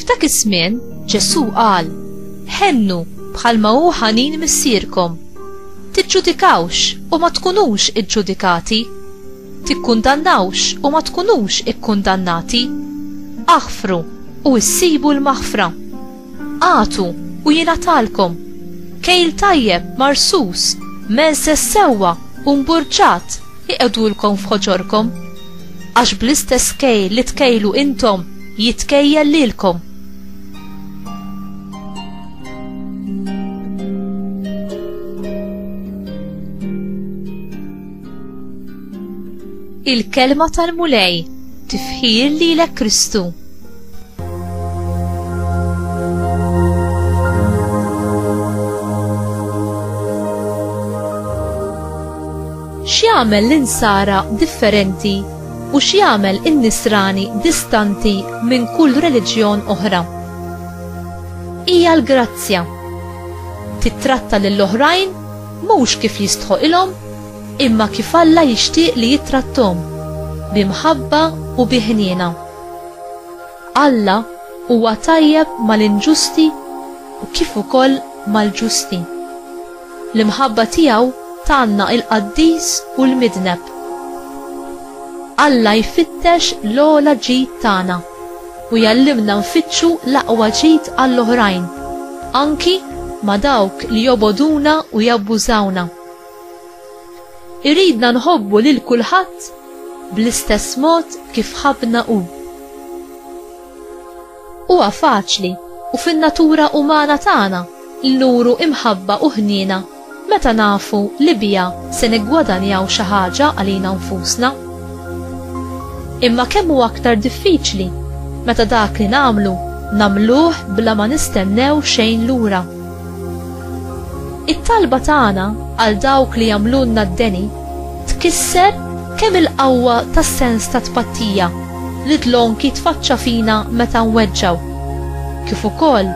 F'dak iż-żmien Ġesù qal, Ħennu bħalma hu ħanin Missierkom. Tiġġudikawx u ma tkunux iġġudikati. Tikkundannawx u ma tkunux ikkundannati. Aħfru u issibu l-maħfra. Agħtu u jingħatalkom. Kejl tajjeb, marsus, menses sewwa u mburġat iqegħdulkom f'ħoġorkom. Għax bl-istess kejl li tkejlu intom, jitkejjel lilkom. il-kelma tal-Mulej tifħir li l Kristu. X'jagħmel l-insara differenti u x'jagħmel in-Nisrani distanti minn kull reliġjon oħra? Hija l-grazzja. Tittratta lill-oħrajn mhux kif jistħoqilhom imma kif Alla jixtieq li jittratthom, bi mħabba u bi ħniena. Alla huwa tajjeb mal-inġusti u kif ukoll mal-ġusti. L-imħabba tiegħu tgħanna il-qaddis u l-midneb. Alla jfittex l-ogħla ġid tagħna u jgħallimna nfittxu l-aqwa ġid għall-oħrajn, anki ma' dawk li jobogħduna u jabbużawna. Iridna nħobbu lil kulħadd bl-istess mod kif ħabbna hu. Huwa faċli u fin-natura umana tagħna li nuru imħabba u ħniena meta nafu li biha se niggwadanjaw xi ħaġa għalina nfusna. Imma kemm hu aktar diffiċli meta dak li nagħmlu nagħmluh bla ma nistennew xejn lura. It-talba tagħna għal dawk li jagħmlulna d-deni Tkisser kemm il-qawwa tas-sens ta' tpattija li Dlonki tfaċċa fina meta nweġġgħu, kif ukoll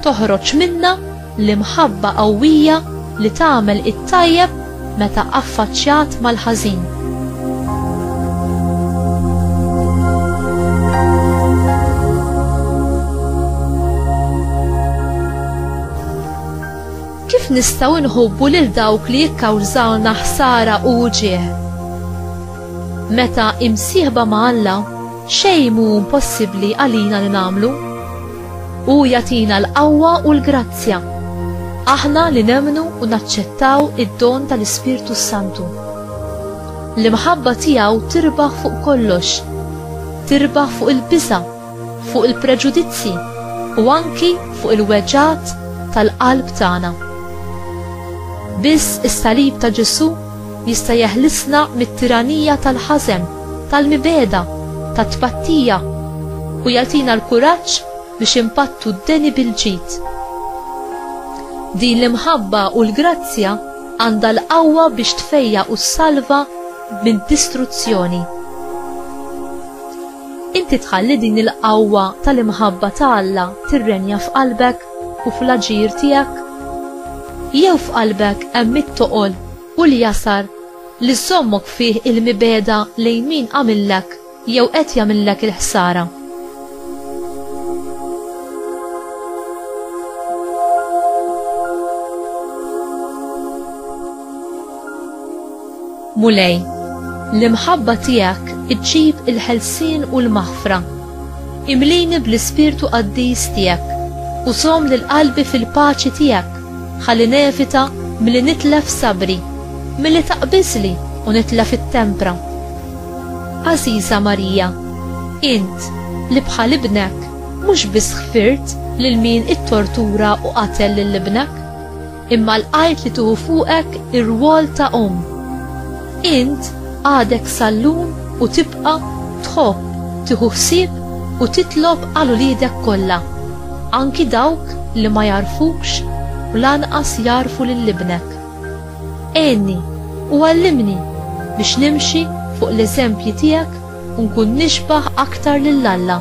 toħroġ minna l-imħabba qawwija li tagħmel it-tajjeb meta affaċċjat mal-ħażin. Kif nistgħu nħobbu lil dawk li jikkawżalna ħsara u wġigħ? Meta imsieħba ma' Alla, xejn mhu impossibbli għalina li nagħmlu. Hu jagħtina l-qawwa u l-grazzja. Aħna li nemmnu u naċċettaw id-don tal-Ispirtu s-Santu. L-imħabba tiegħu tirbaħ fuq kollox. Tirbaħ fuq il-biża' fuq il-preġudizzji u anki fuq il-weġgħat tal-qalb tagħna. Biss is-salib ta' Ġesù jista' jeħlisna mit-tiranija tal-ħażen, tal-mibegħda, tat-tpattija u jagħtina l-kuraġġ biex impattu d-deni bil-ġid. Din l-imħabba u l-grazzja għandha l-qawwa biex tfejja u ssalva minn distruzzjoni. Inti tħalli din il-qawwa tal-imħabba ta' Alla tirrenja f'qalbek u fl-aġir tiegħek? Jew f'qalbek hemm it-toqol u l-jasar li żżommok fih il-mibegħda lejn min għamillek jew qed jagħmillek il-ħsara? Mulej, l-imħabba tiegħek iġġib il-ħelsien u l-maħfra. Imlini bl-ispirtu qaddis tiegħek u żomm lil qalbi fil-paċi tiegħek ħalli nevita milli nitlef sabri, milli taqbiżli u nitlef it-tempra. Għażiża Marija, int li bħal ibnek mhux biss ħfirt lil min ittortura u qatel lil ibnek, Imma l-qajt li tuħu fuqek ir-rwol ta' omm. Int għadek sallum u tibqa' tħobb, tiħu ħsieb u titlob għal uliedek kollha, anki dawk li ma jagħrfukx u lanqas jagħrfu lil ibnek. Għenni u għallimni biex nimxi fuq l-eżempji tiegħek u nkun nixbah aktar lil Alla.